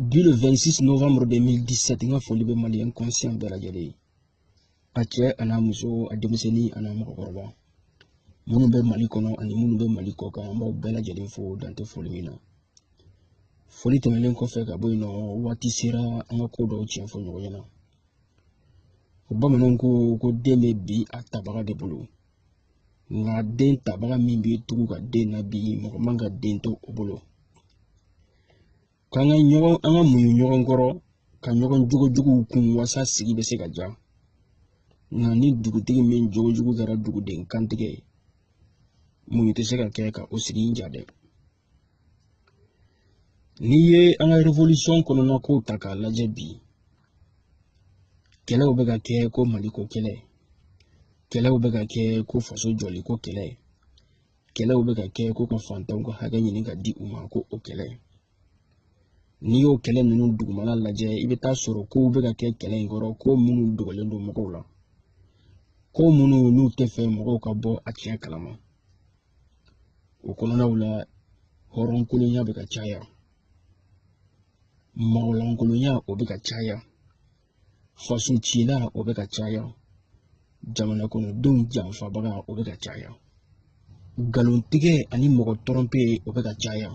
bi le 26 novembre 2017 n ka foli bɛ maliyɛn conscient bɛɛ lajɛlen ye a cɛ an'a muso a denmisɛnnin an'a mɔgɔkɔrɔba minnu bɛ mali kɔnɔ ani minnu bɛ mali kɔkan an b'aw bɛɛ lajɛlen fo dan tɛ foli min na foli tɛmɛnen kɔfɛ ka bɔ yen nɔ waati sera an ka ko dɔw tiɲɛ fɔ ɲɔgɔn ɲɛna bamananw ko ko den bɛ bin a tabaga de bolo nka den tabaga min b'i tugu ka den nabin mɔgɔ man ka den to o bolo k'an ka ɲɔgɔn an ka muɲu ɲɔgɔn kɔrɔ ka ɲɔgɔn jogojuguw kun wasa sigi bɛ se ka diya nka ni dugutigi min jogojugu kɛra duguden kantigɛ ye muɲu tɛ se ka kɛ ka o sigi in diya dɛ N'i ye an ka révolution kɔnɔna kow ta k'a lajɛ bi kɛlɛw bɛ ka kɛ ko maliko kɛlɛ kɛlɛw bɛ ka kɛ ko faso jɔliko kɛlɛ kɛlɛw bɛ ka kɛ ko ka fantanw ka hakɛ ɲini ka di u ma ko o kɛlɛ n'i y'o kɛlɛ ninnu dugumana lajɛ i bɛ taa sɔrɔ kow bɛ ka kɛ kɛlɛ in kɔrɔ ko minnu dogolen don mɔgɔw la ko minnu n'u tɛ fɛ mɔgɔw ka bɔ a tiɲɛ kalama o kɔnɔnaw la hɔrɔnkolonya bɛ ka caya mɔgɔlankolonya o bɛ ka caya faso cila o bɛ ka caya jamana kɔnɔdenw janfabaga o bɛ ka caya nkalontigɛ ani mɔgɔ tɔrɔnpe o bɛ ka caya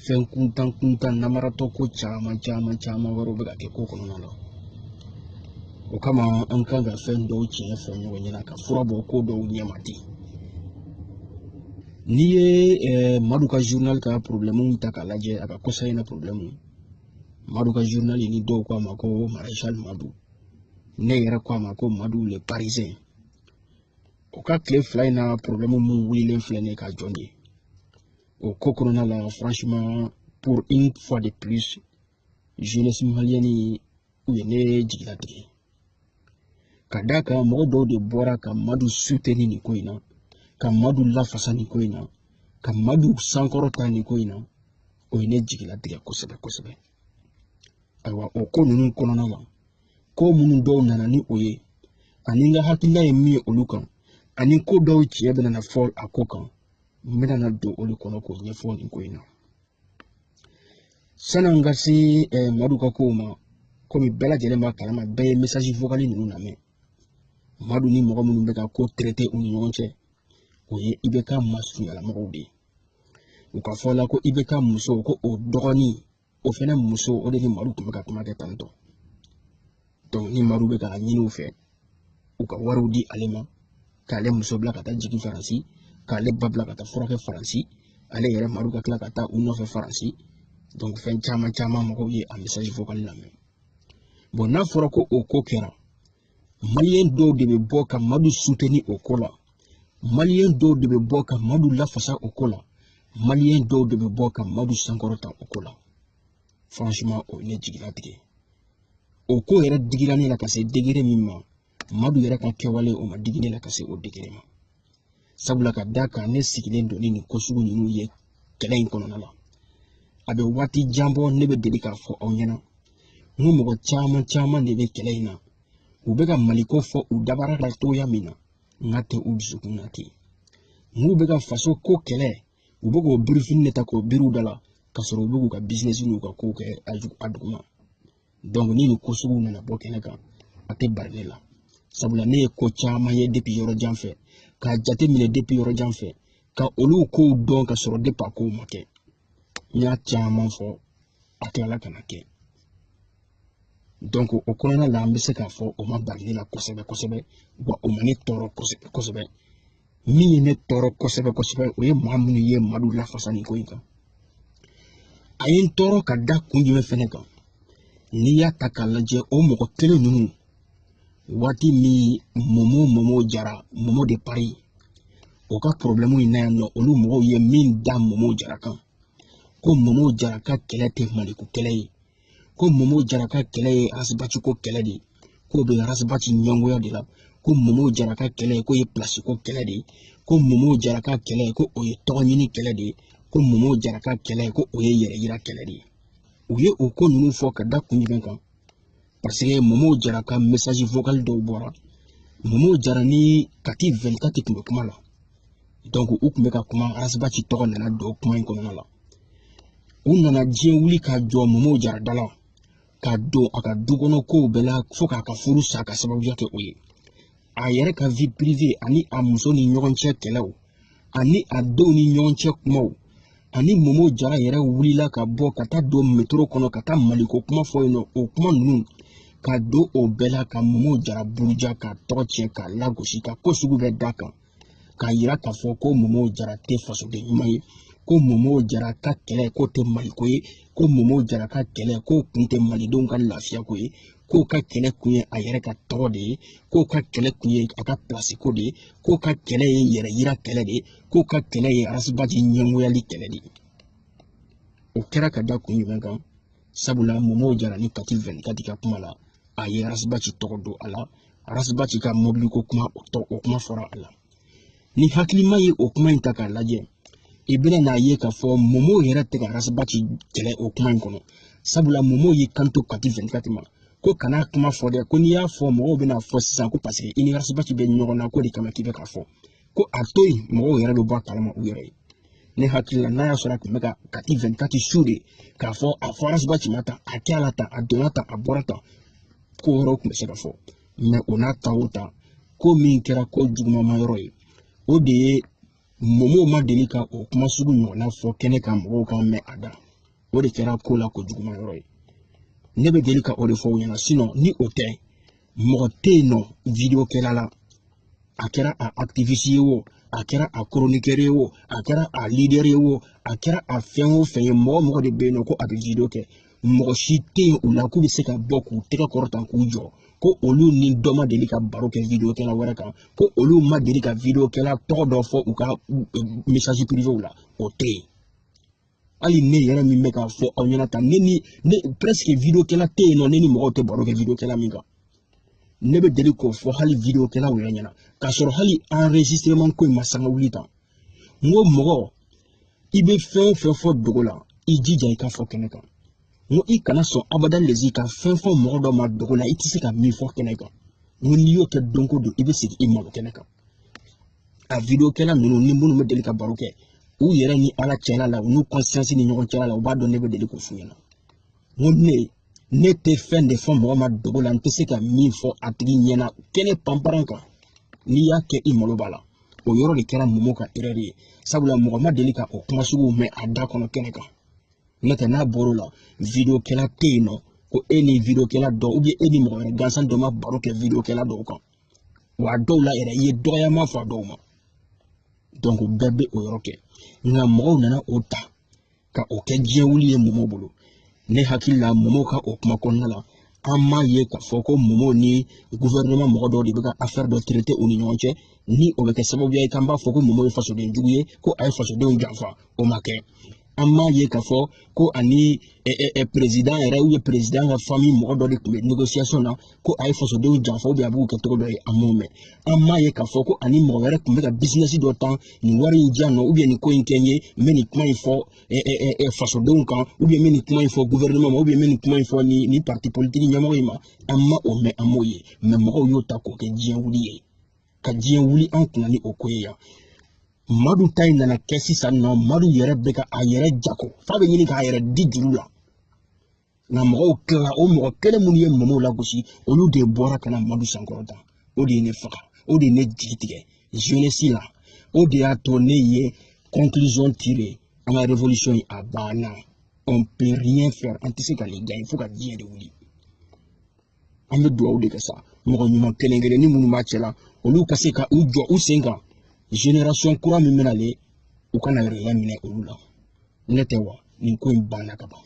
fɛn kuntan kuntan namaratɔ ko caman caman caman wɛrɛw bɛ ka kɛ ko kɔnɔna la o kama an kan ka fɛn dɔw tiɲɛ fɔ ɲɔgɔn ɲɛna ka fura bɔ ko dɔw ɲɛma ten n'i ye eh, madu ka journal ka problɛmuw ta k'a lajɛ a ka kɔsa in na problɛmu madu ka journal ni dɔw ko a ma ko maréchal madu ne yɛrɛ ko a ma ko madu le parisien o ka tile fila in na problɛmu min wulilen filɛ ne ka jɔn de ye o ko kɔnɔna la franchement pour une fois de plus jeunesse malienne u ye ne jigilatigɛ ka d'a kan mɔgɔ dɔw de bɔra ka madu suteni nin ko in na ka madu lafasa nin ko in na ka madu sankɔrɔta nin ko in na o ye ne jigilatigɛ kosɛbɛ kosɛbɛ ayiwa o ko ninnu kɔnɔna la ko minnu dɔw nana ni o ye ani n ka hakilina ye min ye olu kan ani ko dɔw tiɲɛ bɛna fɔ a ko kan n bɛna na don olu kɔnɔ k'o ɲɛfɔ nin ko in na san'an ka se eh, madu ka kow ma komi bɛɛ lajɛlen b'a kalama bɛɛ ye message vocal ninnu lamɛn madu ni mɔgɔ minnu bɛ ka ko traité u ni ɲɔgɔn cɛ o ye IBK masurunyala mɔgɔw de ye u ka fɔ la ko IBK muso ko o dɔgɔnin o fɛnɛ muso o de ni madu tun bɛ ka kuma kɛ tantɔ donc ni madu bɛ k'a ɲini u fɛ u ka wariw di ale ma k'ale muso bila ka taa jigin faransi k'ale ba bila ka taa furakɛ faransi ale yɛrɛ madu ka tila ka taa u nɔfɛ faransi donc fɛn caman caman mɔgɔw ye a message vocal lamɛn n'a fɔra ko o ko kɛra maliyɛn dɔw de bɛ bɔ ka madu suteni o ko la maliyɛn dɔw de bɛ bɔ ka madu lafasa o ko la maliyɛn dɔw de bɛ bɔ ka madu sankɔrɔta o ko la franchement o ye ne jigi latigɛ o ko yɛrɛ digira ne la ka se degere min ma madu yɛrɛ ka kɛwale o ma digi ne la ka se o degere ma sabula ka d'a kan ne sigilen don ni nin ko sugu ninnu ye kɛlɛ in kɔnɔna la a bɛ waati jan bɔ ne bɛ deli k'a fɔ aw ɲɛna n ko mɔgɔ caman caman de bɛ kɛlɛ in na u bɛ ka maliko fɔ u dabara la cogoya min na nk'a tɛ u dusukun na ten n'u bɛ ka faso ko kɛlɛ u bɛ k'o birifini de ta k'o biri u da la k'a sɔrɔ u bɛ k'u ka bizinesi n'u ka kow kɛ a duguma donc ni nin ko sugu nana bɔ kɛnɛ kan a tɛ bari ne la sabula ne ye ko caman ye depi yɔrɔ jan fɛ k'a jate minɛ depi yɔrɔ jan fɛ ka olu kow dɔn ka sɔrɔ depi a kow ma kɛ n y'a caman fɔ a tilala ka na kɛ donc o kɔnɔna la an bɛ se k'a fɔ o ma bari ne la kosɛbɛ kosɛbɛ wa o ma ne tɔɔrɔ kosɛbɛ kosɛbɛ min ye ne tɔɔrɔ kosɛbɛ kosɛbɛ o ye maa minnu ye madu lafasa nin ko in kan a ye n tɔɔrɔ ka da kun jumɛn fɛnɛ kan n'i y'a ta k'a lajɛ o mɔgɔ kelen ninnu waati min momo momo jara momo de pari o ka porobilɛmu in na yan nɔ olu mɔgɔw ye min da momo jara kan ko momo jara ka kɛlɛ tɛ maliko kɛlɛ ye ko momo jara ka kɛlɛ ye arasibati ko kɛlɛ de ye k'o bɛ arasibati ɲɛngoya de la ko momo jara ka kɛlɛ ye k'o ye pilasi ko kɛlɛ de ye ko momo jara ka kɛlɛ ye ko o ye tɔgɔ ɲini kɛlɛ de ye ko momo jara ka kɛlɛ ye ko o ye yɛrɛ yira kɛlɛ de ye u ye o ko ninnu fɔ ka da kun jumɛn kan parce que momo jara ka message vocal dɔw bɔra momo jara ni kati 24 tun bɛ kuma la donc u tun bɛ ka kuma arasibati tɔgɔ nana don kuma in kɔnɔna la u nana diɲɛ wuli ka jɔ momo jara da la ka don a ka du kɔnɔ kow bɛɛ la fo k'a ka furu sa ka sababuya kɛ o ye a yɛrɛ ka vi pirive ani a muso ni ɲɔgɔn cɛ kɛlɛw ani a denw ni ɲɔgɔn cɛ kumaw ani momo jara yɛrɛ wulila ka bɔ ka taa don metoro kɔnɔ ka taa maliko kuma fɔ yen nɔ o kuma ninnu ka don o bɛɛ la ka momo jara buruja k'a tɔgɔ tiɲɛ k'a lagosi ka ko sugu bɛɛ d'a kan k'a yira k'a fɔ ko momo jara tɛ fasoden ɲuman ye ko momo jara ka kɛlɛ k'o tɛ maliko ye ko momo jara ka kɛlɛ k'o kun tɛ malidenw ka lafiya ko ye k'o ka kɛlɛ kun ye a yɛrɛ ka tɔgɔ de ye k'o ka kɛlɛ kun ye a ka pilasi ko de ye k'o ka kɛlɛ ye yɛrɛ yira kɛlɛ de ye k'o ka kɛlɛ ye arasibaji ɲɛngoyali kɛlɛ de ye o kɛra ka da kun jumɛn kan sabula momo jara ni kati vɛn kati ka kuma la a ye arasibaji tɔgɔ don a la arasibaji ka mɔbili ko kuma o tɔ o kuma fɔra a la ni hakilima ye o kuma in ta k'a lajɛ i bɛna n'a ye k'a fɔ momo yɛrɛ tɛ ka arasibaji kɛlɛ o kuma in kɔnɔ sabula momo y'i kanto kati vɛn kati ma ko kana kuma fɔ dɛ ko n'i y'a fɔ mɔgɔw bɛna fɔ sisan ko paseke i ni arasibaji bɛ ɲɔgɔn na k'o de kama k'i bɛ k'a fɔ ko a to yen mɔgɔw yɛrɛ bɛ bɔ a kalama u yɛrɛ ye ne hakili la n'a y'a sɔrɔ a tun bɛ ka kati vɛn kati su de k'a fɔ a fɔ arasibaji ma ta a kɛra tan a donna tan a bɔra tan ko wɛrɛw tun bɛ se ka fɔ mɛ o n'a ta o ta ko min kɛra ko jugumanma yɔrɔ ye o de ye momo ma deli ka o kuma sugu ɲɔgɔnna fɔ kɛnɛ kan mɔgɔw k'a mɛn a da o de kɛra ko la ko juguman yɔrɔ ye ne bɛ deli ka o de fɔ u ɲɛna sinɔn ni o tɛ mɔgɔ tɛ yen nɔ video kɛla la a kɛra a activiste ye o a kɛra a chroniqueur ye o a kɛra a leader ye o a kɛra a fɛn o fɛn ye mɔgɔ mɔgɔ de bɛ yen nɔ ko a bɛ video kɛ mɔgɔ si tɛ yen u la k'u bɛ se ka bɔ k'u tɛgɛ kɔrɔta k'u jɔ ko olu ni dɔ ma deli ka baro kɛ video kɛla wɛrɛ kan ko olu ma deli ka video kɛla tɔgɔ dɔ fɔ u ka message privé la o tɛ yen hali ne yɛrɛ min bɛ k'a fɔ aw ɲɛna tan ne ni ne presque video kɛla tɛ yen nɔ ne ni mɔgɔw tɛ baro kɛ video kɛla min kan ne bɛ deli k'o fɔ hali video kɛlaw yɛrɛ ɲɛna k'a sɔrɔ hali enregistrement ko in ma sanga wuli tan n ko mɔgɔ i bɛ fɛn o fɛn fɔ dogo la i jija i k'a fɔ kɛnɛ kan n ko i kana sɔn abada lezi ka fɛn fɔ mɔgɔ dɔ ma dogo la i tɛ se ka min fɔ kɛnɛ kan n ko n'i y'o kɛ don ko don i bɛ segin i malo kɛnɛ kan a video kɛla ninnu ni minnu bɛ deli ka baro kɛ u yɛrɛ ni ala cɛla la u n'u kɔnsiyansi ni ɲɔgɔn cɛla la u b'a dɔn ne bɛ deli k'o f'u ɲɛna n ko ne ne tɛ fɛn de fɔ mɔgɔ ma dogo la n tɛ se ka min fɔ a tigi ɲɛna kɛnɛ panparan kan n'i y'a kɛ i malo b'a la o yɔrɔ de kɛra momo ka erɛr ye sabula mɔgɔ ma deli ka o kuma suguw mɛn a da kɔnɔ kɛnɛ kan n'o tɛ n'a bɔr'o la vidiyokɛla tɛ yen nɔ ko e ni vidiyokɛla dɔ ubiyɛn e ni mɔgɔ wɛrɛ gansan dɔ ma baro kɛ vidiyokɛla dɔw kan wa a dɔw la yɛrɛ i ye dɔgɔyama fɔ a dɔw ma donc bɛɛ bɛ o yɔrɔ kɛ nka mɔgɔw nana o ta ka o kɛ diɲɛ wuli ye momo bolo ne hakili la momo ka o kuma kɔnɔna la an m'a ye k'a fɔ ko momo ni guvɛrɛnɛman mɔgɔ dɔw de bɛ ka afɛri dɔ tirete u ni ɲɔgɔn cɛ ni o bɛ kɛ sababuya ye k'an b'a fɔ ko momo ye fasoden jugu ye ko a ye fasodenw janfa o ma kɛ an m'a ye k'a fɔ ko a ni perezidan yɛrɛ ubiyɛn perezidan ka fami mɔgɔ dɔ de tun bɛ negosiyasɔn na ko a ye fasodenw janfa ubiyɛn a b'u kɛ cogo dɔ ye an m'o mɛn an m'a ye k'a fɔ ko a ni mɔgɔ wɛrɛ tun bɛ ka bisinɛsi dɔ tan nin wari in di yan nɔ ubiyɛn nin ko in kɛ n ye n bɛ nin kuma in fɔ eh, eh, eh, fasodenw kan ubiyɛn n bɛ nin kuma in fɔ guvɛrɛnɛman ma ubiyɛn n bɛ nin kuma in fɔ ni nin parti politiki ɲɛmɔgɔ in ma an ma o mɛn an m'o ye mɛ mɔgɔw y'o ta k'o kɛ diɲɛ wuli ye ka diɲɛ wuli an kunna ni o ko ye yan madu ta in nana kɛ sisan nɔ madu yɛrɛ bɛ ka a yɛrɛ jago f'a bɛ ɲini k'a yɛrɛ di juru la nka mɔgɔw tilala o mɔgɔ kelen minnu ye momo lagosi olu de bɔra ka na madu sankɔrɔta o de ye ne faga o de ye ne jigi tigɛ jeunesse la o de y'a to ne ye conclusion tirer an ka révolution in a banna on peut rien faire an tɛ se ka nin gagner fo ka diɲɛ de wuli an bɛ dugawu de kɛ sa mɔgɔ ɲuman kelen kelen ni minnu b'a cɛ la olu ka se ka u jɔ u sen kan génération kura min bɛna le u kana yɛrɛ minɛ olu la n'o tɛ wa nin ko in banna ka ban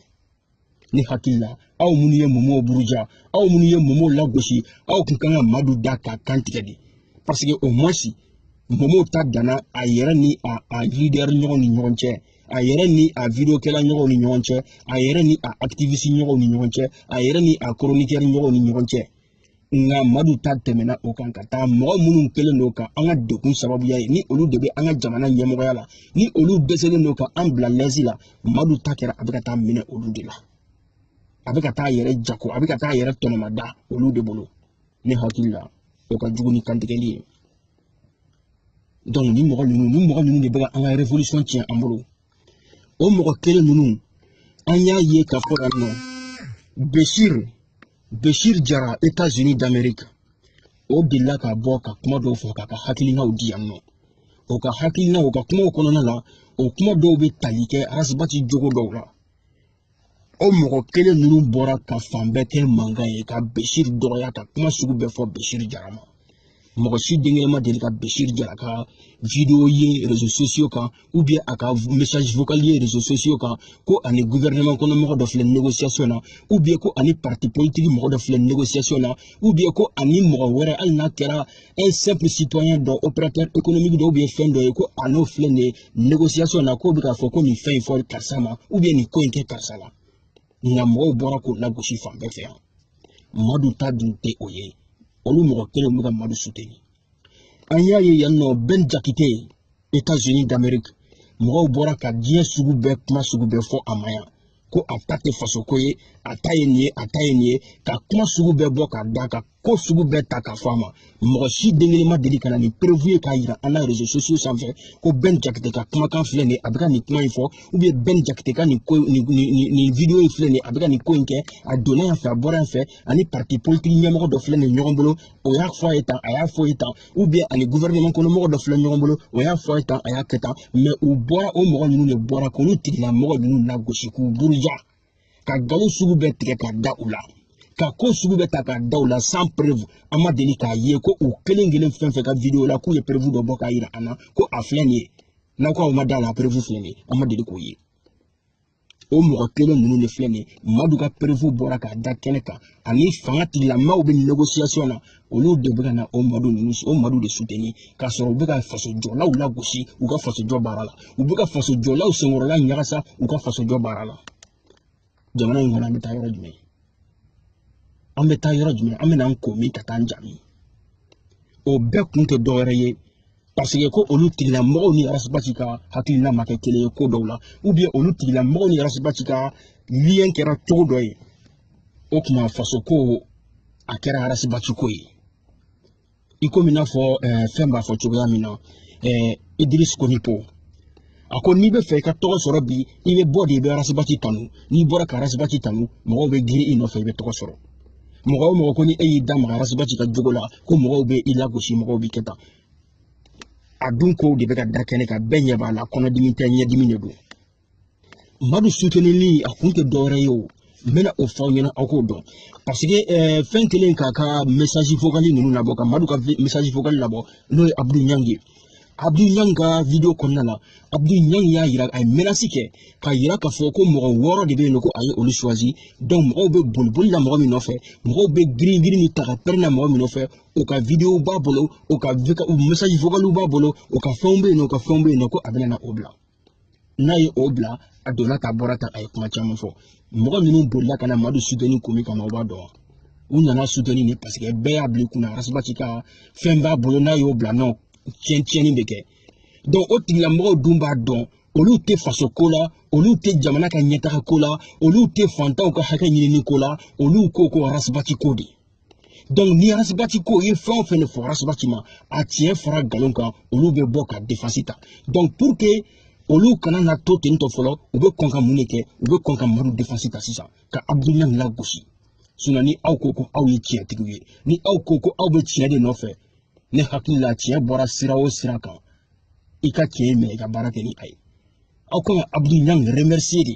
ne hakili la aw minnu ye momo buruja aw minnu ye momo lagosi aw kun kan ka madu da k'a kan tigɛ de parce que au moins momo ta danna a yɛrɛ ni a lidɛri ɲɔgɔn ni ɲɔgɔn cɛ a yɛrɛ ni a vidiyokɛla ɲɔgɔnw ni ɲɔgɔn cɛ a yɛrɛ ni a akitivisi ɲɔgɔnw ni ɲɔgɔn cɛ a yɛrɛ ni a koronikɛri ɲɔgɔnw ni ɲɔgɔn cɛ nka madu ta tɛmɛna o kan ka taa mɔgɔ minnu kɛlen don ka an ka degun sababuya ye ni olu de bɛ an ka jamana ɲɛmɔgɔya la ni olu dɛsɛlen don ka an bila lɛsi la madu ta kɛra a bɛ ka taa minɛ olu de la a bɛ ka taa a yɛrɛ jago a bɛ ka taa a yɛrɛ tɔnɔmada olu de bolo ne hakili la o ka jugu ni kantigɛli ye donc ni mɔgɔ ninnu ni mɔgɔ ninnu de bɛ ka an ka revolution tiɲɛ an bolo o mɔgɔ kelen ninnu an y'a ye k'a fɔ yan nɔ bɛsir bɛsir jara etazini damerika o delila ka bɔ ka kuma dɔw fɔ k'a ka hakilinaw di yan nɔ o ka hakilinaw o ka kumaw kɔnɔna la o kuma dɔw bɛ tali kɛ arasibati jogo dɔw la o mɔgɔ kelen ninnu bɔra ka fan bɛɛ kɛ mankan ye ka besiri dɔgɔya ka kuma sugu bɛɛ fɔ besiri jara ma mɔgɔ si denkɛ ma deli ka besiri jara ka video ye rezo sosiyo kan ubiyɛn a ka message vocal ye rezo sosiyo kan ko a ni guvɛrɛnɛman kɔnɔ mɔgɔ dɔ filɛ negosiyasɔn na ubiyɛn ko a ni parti politiki mɔgɔ dɔ filɛ negosiyasɔn na ubiyɛn ko a ni mɔgɔ wɛrɛ hali n'a kɛra un simple citoyen dɔ opérateur économique dɔ ubiyɛn fɛn dɔ ye ko a n'o filɛ nin ye négociation na k'o bɛ k'a fɔ ko nin fɛn in fɔ karisa ma ou bien nin ko in kɛ karisa la nka mɔgɔw bɔra k'o lagosi fan bɛɛ fɛ yan madu ta dun tɛ o ye olu mɔgɔ kelen bɛ ka madu suteni an y'a ye yan nɔ bɛn jakite etats unis d'amerique mɔgɔw bɔra ka diɲɛ sugu bɛɛ kuma sugu bɛɛ fɔ a ma yan ko a ta tɛ fasoko ye a ta ye nin ye a ta ye nin ye ka kuma sugu bɛɛ bɔ ka da ka ko sugu bɛɛ ta ka fɔ a ma mɔgɔ si den kelen ma deli ka na ni preuve ye k'a yira an na réseaux sociaux sanfɛ ko bɛn jakite ka kumakan filɛ nin ye a bɛ ka nin kuma in fɔ ou bien bɛn jakite ka nin ko nin nin nin video in filɛ nin ye a bɛ ka nin ko in kɛ a donna yan fɛ a bɔra yan fɛ ani parti politique ɲɛmɔgɔ dɔ filɛ nin ye ɲɔgɔn bolo o y'a fɔ a ye tan a y'a fɔ a ye tan ou bien ani gouvernement kɔnɔ mɔgɔ dɔ filɛ ɲɔgɔn bolo o y'a fɔ a ye tan a y'a kɛ tan mais u bɔra o mɔgɔ ninnu de bɔra k'olu tigilamɔgɔ ninnu lagosi k'u buruja ka nkalon sugu bɛɛ tigɛ ka da u la ka ko sugu bɛɛ ta ka da u la sans preuve an ma deli k'a ye ko u kelen kelen fɛn fɛn ka video la k'u ye preuve dɔ bɔ k'a yira an na ko a filɛ nin ye n'aw k'aw ma da la preuve filɛ nin ye an ma deli k'o ye o mɔgɔ kelen ninnu de filɛ nin ye madu ka preuve bɔra k'a da kɛnɛ kan ani fanga tigilamaaw bɛ négociation na olu de bɛ ka na o madu de soutenir k'a sɔrɔ u bɛ ka fasojɔlaw lagosi u ka fasojɔ baara la u bɛ ka fasojɔlaw senkɔrɔla ɲagasa u ka fasojɔ baara la jamana in kɔnɔ an bɛ taa yɔrɔ jumɛn an bɛ taa yɔrɔ jumɛn an bɛ n'an ko min ka taa an jaabi o bɛɛ kun tɛ dɔwɛrɛ ye parce que ko olu tigilamɔgɔw ni arasibati ka hakilina ma kɛ kelen ye ko dɔw la ou bien olu tigilamɔgɔw ni arasibati ka lien kɛra cogo dɔ ye o tuma faso ko a kɛra arasibati ko ye i komi i n'a fɔ eh, fɛn b'a fɔ cogoya min na eh, idirisi konipo a ko n'i bɛ fɛ i ka tɔgɔ sɔrɔ bi i bɛ bɔ de i bɛ arasibati tanu n'i bɔra ka arasibati tanu mɔgɔw bɛ girin i nɔfɛ i bɛ tɔgɔ sɔrɔ mɔgɔ o mɔgɔ ko ni e y'i da maga arasibati ka jogo la ko mɔgɔw bɛ i lagosi mɔgɔw b'i kɛ tan a dun kow de bɛ ka da kɛnɛ kan bɛɛ ɲɛ b'a la kɔnɔdimi tɛ ɲɛdimi de don madu sutenili a kun tɛ dɔwɛrɛ ye o n bɛna o fɔ aw ɲɛna aw k'o dɔn parce que eh, fɛn kelen k'a ka message vocali ninnu labɔ ka madu ka message vocali labɔ n'o ye abdu ɲang ye abdu ɲang ka video kɔnɔna la abdu ɲang y'a yira a ye menace kɛ k'a yira k'a fɔ ko mɔgɔ wɔɔrɔ de bɛ yen nɔ ko a ye olu choisi donc mɔgɔw bɛ boliboli la mɔgɔ min nɔfɛ mɔgɔw bɛ girin girin ni ta ka pɛrɛn na mɔgɔ min nɔfɛ o ka video b'a bolo o ka message vocaliw b'a bolo o ka fɛnw bɛ yen nɔ o ka fɛnw bɛ yen nɔ ko a bɛna na o bila n'a ye o bila a donna ta bɔra ta a ye kuma caman fɔ mɔgɔ minnu bolila ka na madu soutenir ko min kama o b'a dɔn wa u nana soutenir ne parce que bɛɛ y'a bila i kunna arasibati ka fɛn b'a bolo n'a y'o bila nɔ tiɲɛ tiɲɛni bɛ kɛ donc o tigilamɔgɔw dun b'a dɔn olu tɛ faso ko la olu tɛ jamana ka ɲɛtaga ko la olu tɛ fantanw ka hakɛ ɲinini ko la olu ko ko arasibati ko de donc ni arasibati ko ye fɛn o fɛn de fɔ arasibati ma a tiɲɛ fara nkalon kan olu bɛ bɔ ka défense ta donc pour que olu kana na to ten tɔ fɔlɔ u bɛ kɔn ka mun de kɛ u bɛ kɔn ka madu défense ta sisan ka abdu ɲang lagosi sinon ni aw ko ko aw ye tiɲɛtigiw ye ni aw ko ko aw bɛ tiɲɛ de nɔfɛ ne hakili la tiɲɛ bɔra sira o sira kan i ka tiɲɛ minɛ i ka baara kɛ ni a ye aw kan ka abdu ɲang remercier de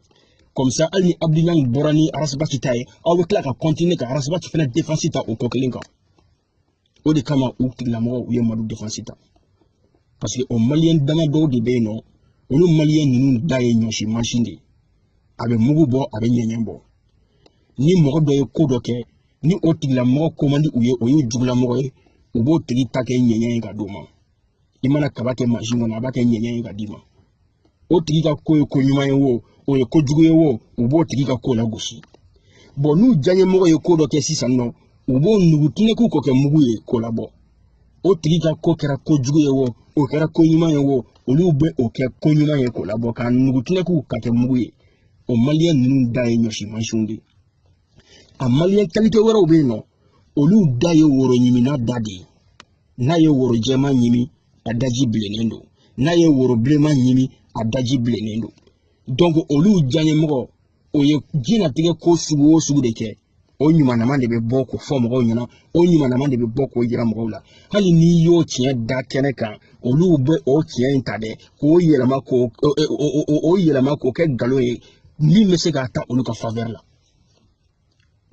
comme ça hali ni abdou niang bɔra ni arasibati ta ye aw bɛ tila ka kɔntine ka arasibati fana defansi ta o ko kelen kan o de kama u tigilamɔgɔw u ye madu defansi ta parce que o maliyɛn dama dɔw de bɛ yen nɔ olu maliyɛn ninnu da ye ɲɔsi mansin de ye a bɛ mugu bɔ a bɛ ɲɛɲɛ bɔ ni mɔgɔ dɔ ye ko dɔ kɛ ni o tigilamɔgɔ ko man di u ye o y'u jugulamɔgɔ ye u b'o tigi ta kɛ ɲɛɲɛ ye ka d'o ma i mana kaba kɛ mansin kɔnɔ a b'a kɛ ɲɛɲɛ ye ka d'i ma o tigi ka ko ye ko ɲuman ye wo o ye ko jugu ye wo u b'o tigi ka ko lagosi bon n'u diyaɲɛmɔgɔ ye ko dɔ kɛ sisan nɔ u b'o nugu tinɛku k'o kɛ mugu ye k'o labɔ o tigi ka ko kɛra ko jugu ye wo o kɛra ko ɲuman ye wo olu bɛ o kɛ ko ɲuman ye k'o labɔ k'a nugu tinɛku k'a kɛ mugu ye o maliyɛn ninnu da ye ɲɔsi mansinw de ye a maliyɛn kalite wɛrɛw bɛ yen nɔ olu da ye woro ɲiminna da de ye n'a ye woro jɛman ɲimi a daji bilennen don n'a ye woro bilenman ɲimi a daji bilennen don donc olu diyaɲɛmɔgɔ o ye diɲɛnatigɛ ko sugu o sugu de kɛ o ɲumanama de bɛ bɔ k'o fɔ mɔgɔw ɲɛna o ɲumanama de bɛ bɔ k'o jira mɔgɔw la hali n'i y'o tiɲɛ da kɛnɛ kan olu bɛ o tiɲɛ in ta dɛ k'o yɛlɛma k'o o yɛlɛma k'o kɛ nkalon ye min bɛ se ka taa olu ka favɛri la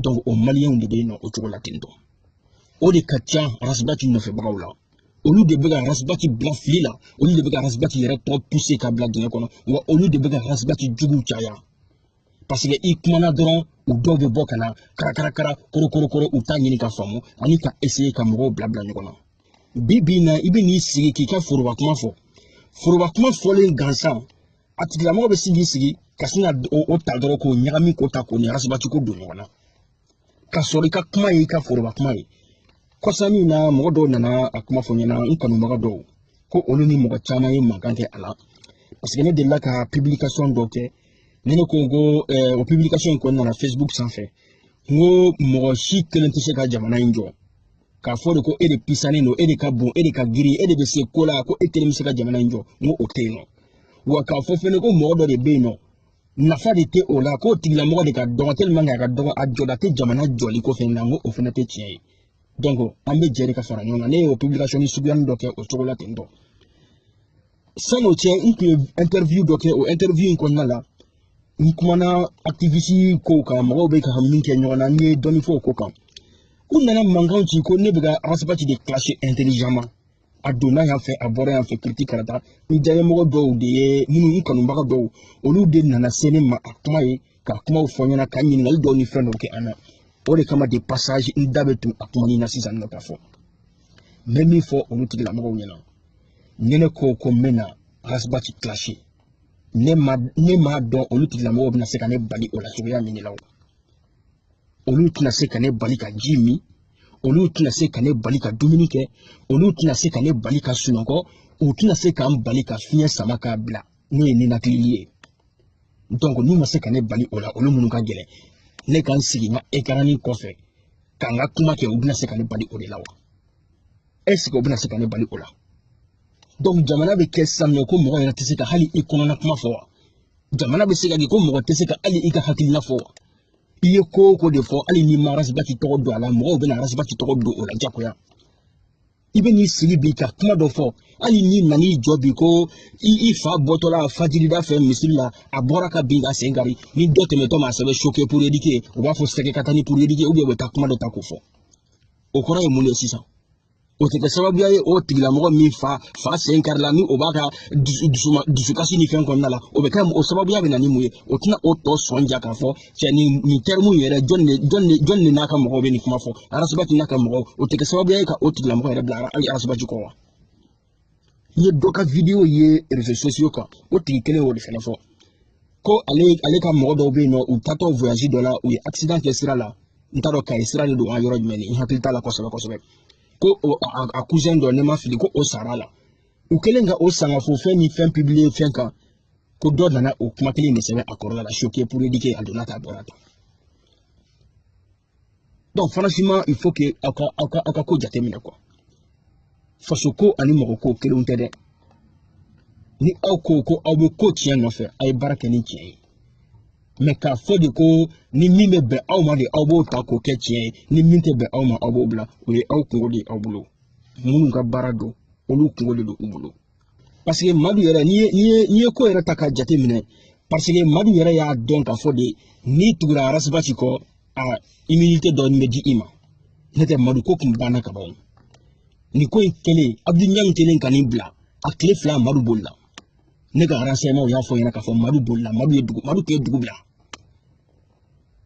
donc o maliyɛnw de bɛ yen nɔ o cogo la ten tɔ o de ka ca arasibati nɔfɛbagaw la olu de bɛ ka arasibati bila fili la olu de bɛ ka arasibati yɛrɛ tɔ puse k'a bila dingɛ kɔnɔ wa olu de bɛ ka arasibati juguw caya parce que i kumana dɔrɔn u dɔw bɛ bɔ ka na karakarakara korokorokoro u t'a ɲini k'a faamu ani ka essayer ka mɔgɔw bila bila ɲɔgɔn na bi bi in na i bɛ n'i sigi k'i ka foroba kuma fɔ foroba kuma fɔlen gansan a tigilamɔgɔ bɛ sin k'i sigi ka sin ka o ta dɔrɔn k'o ɲagami k'o ta k'o ni arasibati ko don ɲɔgɔn na ka sɔrɔ i ka kuma ye i ka foroba kuma ye kɔsa in na mɔgɔ dɔw nana a kuma fɔ n ɲɛna n kanubaga dɔw ko olu ni mɔgɔ caman ye mankan kɛ a la parce que ne delila ka publication dɔ kɛ ne ne ko ko eh, o publication in kɔnɔna na facebook sanfɛ n ko mɔgɔ si kelen tɛ se ka jamana in jɔ k'a fɔ de ko e de pisanen don e de ka bon e de ka girin e de bɛ se ko la ko e kelen bɛ se ka jamana in jɔ n ko o tɛ yen nɔ wa k'a fɔ fɛnɛ ko mɔgɔ dɔ de bɛ yen nɔ nafa de tɛ o la k'o tigilamɔgɔ de ka dɔgɔ tellement k'a ka dɔgɔ a jɔda tɛ jamana jɔli ko fɛn na n ko o fɛnɛ tɛ tiɲɛ ye donc an bɛ jɛ de ka fara ɲɔgɔn kan ne y'o publication suguyanin dɔ kɛ o cogo la ten tɔ sani o cɛ n tun ye interview dɔ kɛ o interview in kɔnɔna la n kumana activiste kow kan mɔgɔw bɛ ka min kɛ ɲɔgɔn na n ye dɔɔni fɔ o ko kan u nana mankan ci ko ne bɛ ka arasibati de clasher intelligemment a donna yan fɛ a bɔra yan fɛ kiriti karata n diyaɲɛmɔgɔ dɔw de ye minnu n kanubaga dɔw olu de nana se ne ma a kuma ye ka kumaw fɔ n ɲɛna ka ɲininkali dɔw ni fɛn dɔw kɛ an na o de kama de passage n da bɛ don a kuma nin na sisan nɔ k'a fɔ n bɛ min fɔ olu tigilamɔgɔw ɲɛna ni ne ko ko n bɛ na arasibati clasher ne ma ne m'a dɔn olu tigilamɔgɔw bɛna se ka ne bali o la cogoya min de la o olu tɛna se ka ne bali ka ji min olu tɛna se ka ne bali ka dumuni kɛ olu tɛna se ka ne bali ka sunɔgɔ u tɛna se ka n bali ka fiɲɛ sama k'a bila n'o ye ninakili ye donc n'u ma se ka ne bali o la olu minnu ka gɛlɛn ne ka n sigi n ka écran kɔfɛ ka n ka kuma kɛ u bɛna se ka ne bali o de la wa est ce que u bɛna se ka ne bali o la donc jamana bɛ kɛ sisan mɛ ko mɔgɔ yɛrɛ tɛ se ka hali i kɔnɔna kuma fɔ wa jamana bɛ se ka kɛ ko mɔgɔ tɛ se ka hali i ka hakilina fɔ wa i ye ko o ko de fɔ hali n'i ma arasibati tɔgɔ don a la mɔgɔw bɛna arasibati tɔgɔ don o la jagoya i bɛ n'i sigi bi ka kuma dɔ fɔ hali n'i nan'i jɔ bi ko i i fa bɔtɔla fajirida fɛ misiri la a bɔra ka bin k'a sen kari ni dɔ tɛmɛtɔ ma a sɛbɛn choqué pour éduquer u b'a fɔ sɛgɛ ka taa ni pour éduquer ou bien u bɛ taa kuma dɔ ta k'o fɔ o kɔrɔ ye mun de ye sisan o tɛ kɛ sababuya ye o tigilamɔgɔ min fa fa sen karila ni o b'a ka dusukasi ni fɛn kɔnɔna la o bɛ kɛ o sababuya bɛ na ni mun ye o tɛna o tɔ sɔn ja k'a fɔ cɛ nin nin terme yɛrɛ jɔni de jɔni de jɔni de n'a ka mɔgɔw bɛ nin kuma fɔ arasibati n'a ka mɔgɔw o tɛ kɛ sababu ye ka o tigilamɔgɔ yɛrɛ bila hali arasibati kɔ wa n ye dɔ ka wideyo ye réseaux sociaux kan o tigi kelen y'o de fana fɔ ko ale ale ka mɔgɔ dɔw bɛ yen nɔ u taatɔ voyage dɔ la u ye accident kɛ sira la n t'a dɔn kayi sira de don an yɔrɔ jumɛn n hakili t'a la kosɛbɛ kosɛbɛ ko o a a cousin dɔ ni n ma fili ko o sarala u kɛlen ka o sangafo fɛn ni fɛn publier fɛn kan ko dɔ nana o kuma kelen de sɛbɛn a kɔrɔla la choqué pour éduquer a donna ta a bɔra ta donc franchement il faut que aw ka aw ka aw ka ko jateminɛ quoi faso ko ani mɔgɔ ko kelenw tɛ dɛ ni aw ko ko aw bɛ ko tiɲɛ nɔfɛ a ye baara kɛ ni tiɲɛ ye mais k'a fɔ de ko ni min bɛ bɛn aw ma de aw b'o ta k'o kɛ tiɲɛ ye ni min tɛ bɛn aw ma aw b'o bila o ye aw kungo de ye aw bolo minnu ka baara don olu kungo de don u bolo paseke madu yɛrɛ n'i ye n'i ye n'i ye ko yɛrɛ ta k'a jate minɛ paseke madu yɛrɛ y'a dɔn k'a fɔ de n'i tugura arasibati kɔ a immunité dɔɔni bɛ di i ma n'o tɛ madu ko tun banna kaban o nin ko in kɛlen abudu ɲangi kɛlen ka nin bila a tile fila madu bolila ne ka renseignement y'a fɔ n ɲɛna k'a fɔ madu bolila madu ye dugu madu tun ye dugu bila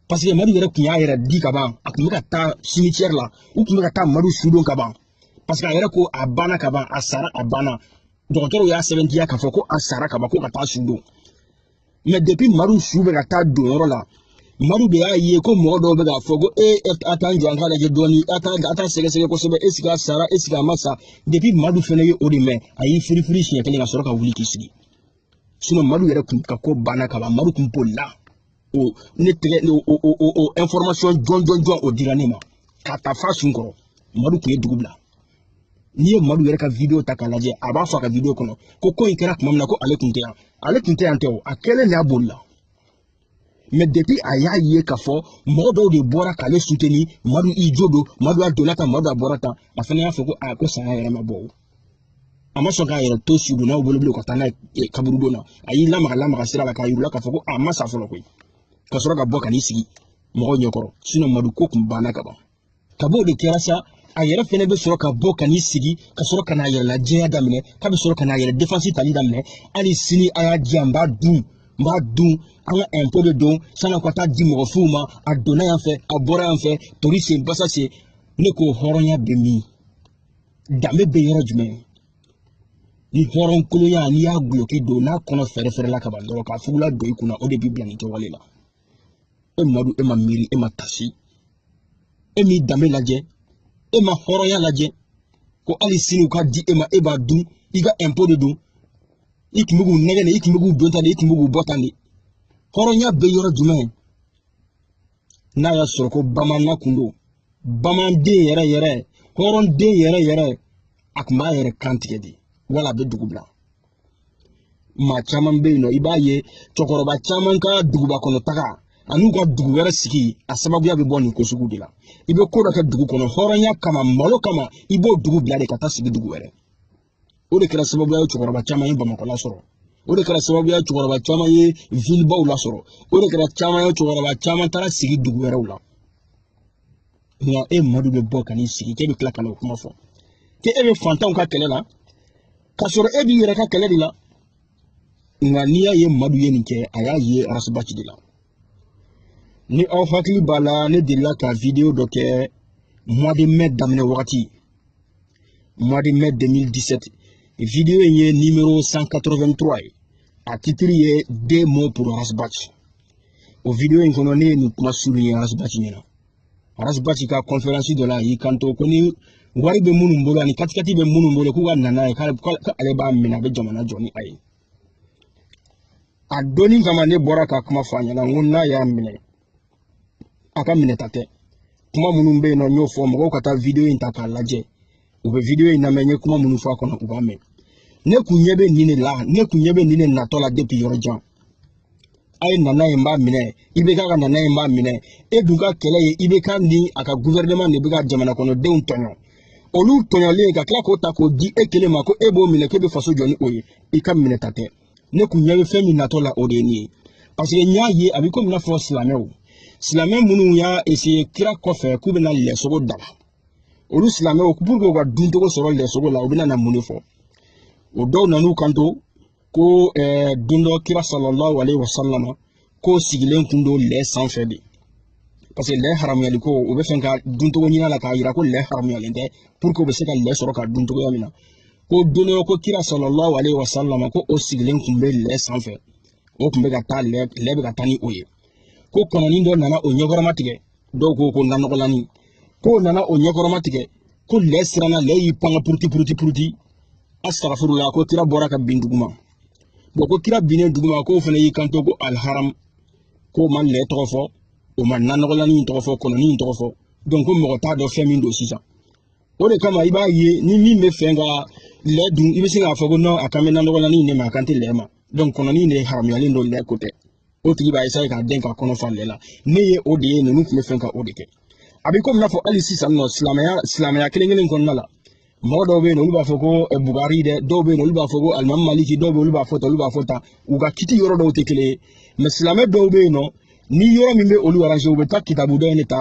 paseke madu yɛrɛ tun y'a yɛrɛ di ka ban a tun bɛ ka taa cimetière la u tun bɛ ka taa madu sudon ka ban parce que a yɛrɛ ko a banna ka ban a sara a banna dɔgɔtɔrɔw y'a sɛbɛntiya k'a fɔ ko a sara ka ban ko ka taa su don mais depuis madu su bɛ ka taa don yɔrɔ la madu de y'a ye ko mɔgɔ dɔw bɛ k'a fɔ ko e a t'an jɔ an k'a lajɛ dɔɔni a t'a a t'a sɛgɛsɛgɛ kosɛbɛ est ce que a sara est ce que a ma sa depuis madu fɛnɛ ye o de mɛn a y'i firifiri siɲɛ kelen ka sɔrɔ ka wuli k'i sigi sinon madu yɛrɛ kun ka ko banna ka ban madu kun bolila o ne tɛgɛ o o o o information jɔnjɔnjɔn o dira ne ma ka ta fa sun kɔrɔ madu tun ye dugu bila n'i ye madu yɛrɛ ka video ta k'a lajɛ a b'a fɔ a ka video kɔnɔ ko ko in kɛra tuma min na ko ale tun tɛ yan ale tun tɛ yan tɛ o a kɛlen de y'a bolila mais depuis a y'a ye k'a fɔ mɔgɔ dɔw de bɔra k'ale soutenir madu i jo don madu a donna tan madu a bɔra tan a fana y'a fɔ ko a ko saya yɛrɛ ma bɔ o a ma sɔn k'a yɛrɛ to sudonnaw bolo bilen ka taa n'a ye kaburudon na a y'i lamaga lamaga sira la k'a yir'u la k'a fɔ ko a ma sa fɔlɔ koyi ka sɔrɔ ka bɔ ka n'i sigi mɔgɔw ɲɛkɔrɔ sinon madu ko tun banna ka ban kab'o de kɛra sa a yɛrɛ fɛnɛ bɛ sɔrɔ ka bɔ ka n'i sigi ka sɔrɔ ka n'a yɛrɛ lajɛya daminɛ k'a bɛ sɔrɔ ka n'a yɛrɛ défense tali daminɛ hali sini a y'a di yan n b'a dun n b'a dun an ka impôt de don san'a ka taa di mɔgɔ fuw ma a donna yan fɛ a bɔra yan fɛ tori sen basa sen ne ko hɔrɔnya bɛ min danbe bɛ yɔrɔ jumɛn ni hɔrɔnkolonya n'i y'a gulɔki don n'a kɔnɔ fɛrɛfɛrɛ la ka ban dɔrɔn k'a fugula don i kunna o de b'i bila nin kɛwale la e madu e ma miiri e ma taasi e m'i danbe lajɛ e ma hɔrɔnya lajɛ ko hali sini u k'a di e ma e b'a dun i ka impôt de don i tun bɛ k'u nɛgɛn de i tun bɛ k'u don tan de i tun bɛ k'u bɔ tan de hɔrɔnya bɛ yɔrɔ jumɛn n'a y'a sɔrɔ ko bamanan kun don bamanden yɛrɛ yɛrɛ hɔrɔnden yɛrɛ yɛrɛ a tun b'a yɛrɛ kan tigɛ de wala a bɛ dugu bila maa caman bɛ yen nɔ i b'a ye cɛkɔrɔba caman ka duguba kɔnɔ taga an'u ka dugu wɛrɛ sigi a sababuya bɛ bɔ nin ko sugu de la i bɛ ko dɔ kɛ dugu kɔnɔ hɔrɔnya kama malo kama i b'o dugu bila de ka taa sigi dugu wɛrɛ o de kɛra sababuya ye cɛkɔrɔba caman ye bamakɔ lasɔrɔ o de kɛra sababuya cɛkɔrɔba caman ye villebaw lasɔrɔ o de kɛra caman ye cɛkɔrɔba caman taara sigi dugu wɛrɛw la nka e madu bɛ bɔ ka n'i sigi k'e bɛ tila ka n'o kuma fɔ k'e e bɛ fantanw ka kɛlɛ la k'a sɔrɔ e b'i yɛrɛ ka kɛlɛ de la nka n'i y'a ye madu ye nin kɛ a y'a ye arasibati de la ni aw hakili b'a la ne delila ka video dɔ kɛ mois de mai daminɛ wagati mois de mai 2017 video in ye numéro 183 ye a titre ye 2 mots pour rasbat o video in kɔnɔ ne ye nin kuma souligner rasbat ɲɛna rasbat ka conférence dɔ la a y'i kanto ko ni wari bɛ minnu bolo ani katikati bɛ minnu bolo k'u ka na n'a ye k'ale b'a minɛ a bɛ jamana jɔ ni a ye a donni kama ne bɔra ka kuma fɔ a ɲɛna n ko n'a y'a minɛ a ka minɛta tɛ kuma minnu bɛ yen nɔ n y'o fɔ mɔgɔw ka taa video in ta k'a lajɛ u bɛ video in lamɛn n ye kuma minnu fɔ a kɔnɔ u b'a mɛn ne kun ɲɛ bɛ nin de la ne kun ɲɛ bɛ nin de natɔ la depuis yɔrɔ jan a ye na n'a ye n b'a minɛ ibk ka na n'a ye n b'a minɛ e dun ka kɛlɛ ye ibk ni a ka gouvernement de bɛ ka jamanakɔnɔdenw tɔɲɔ olu tɔɲɔlen ka tila k'o ta k'o di e kelen ma ko e b'o minɛ k'e bɛ faso jɔ ni o ye i ka minɛta tɛ ne kun ɲɛ bɛ fɛn min natɔ la o de ye nin ye parce que n y'a ye a bɛ komi i n'a fɔ silamɛw silamɛ minnu y'a essayer kira kɔfɛ k'u bɛna lɛsogo daga olu silamɛw pour que u ka duncogo sɔrɔ lɛsogo la u bɛna na mun de fɔ o dɔw nan'u kanto ko eh, don dɔ kira sallallahu alaihi wasallam ko o sigilen kun don lɛ sanfɛ de parce que lɛ haramuyali ko u bɛ fɛ ka duncogo ɲini a la k'a yira ko lɛ haramuyalen tɛ pour que u bɛ se ka lɛ sɔrɔ ka dun cogoya min na ko don dɔ ko kira sallallahu alaihi wasallam ko o sigilen kun bɛ lɛ sanfɛ o kun bɛ ka taa lɛ lɛ bɛ ka taa ni o ye ko kɔnɔni dɔ nana o ɲɛkɔrɔma tigɛ dɔw ko ko nanɔgɔlani k'o nana o ɲɛkɔrɔma tigɛ ko lɛ siranna lɛ y'i pan ka puruti puruti puruti astagfirullah ko kira bɔra ka bin duguma bon ko kira binnen duguma k'o fana y'i kanto ko aliharam k'o ma lɛ tɔgɔ fɔ o ma nanɔgɔlani in tɔgɔ fɔ kɔnɔni in tɔgɔ fɔ donc ko mɔgɔ t'a dɔn fɛn min don sisan o de kama i b'a ye ni min bɛ fɛ ka lɛ dun i bɛ se k'a fɔ ko non a kan bɛ nanɔgɔlani in de ma a kan tɛ lɛ ma donc kɔnɔni in de haramuyalen don lɛ ko tɛ o tigi b'a essayer k'a den ka kɔnɔ fa lɛ la ne ye o de ye ninnu tun bɛ fɛn ka o de kɛ a bɛ komi n'a fɔ hali sisan nɔ silamɛya silamɛya kelen kelen kɔnɔna la mɔgɔ dɔw bɛ yen olu b'a fɔ ko eh, bugari dɛ dɔw bɛ yen olu b'a fɔ ko alimami maliki dɔw bɛ yen olu b'a fɔ tan olu b'a fɔ tan u ka kiti yɔrɔ dɔw tɛ kelen ye mais silamɛ dɔw bɛ yen nɔ ni yɔrɔ min bɛ olu arranger u bɛ taa kitabu dɔ in de ta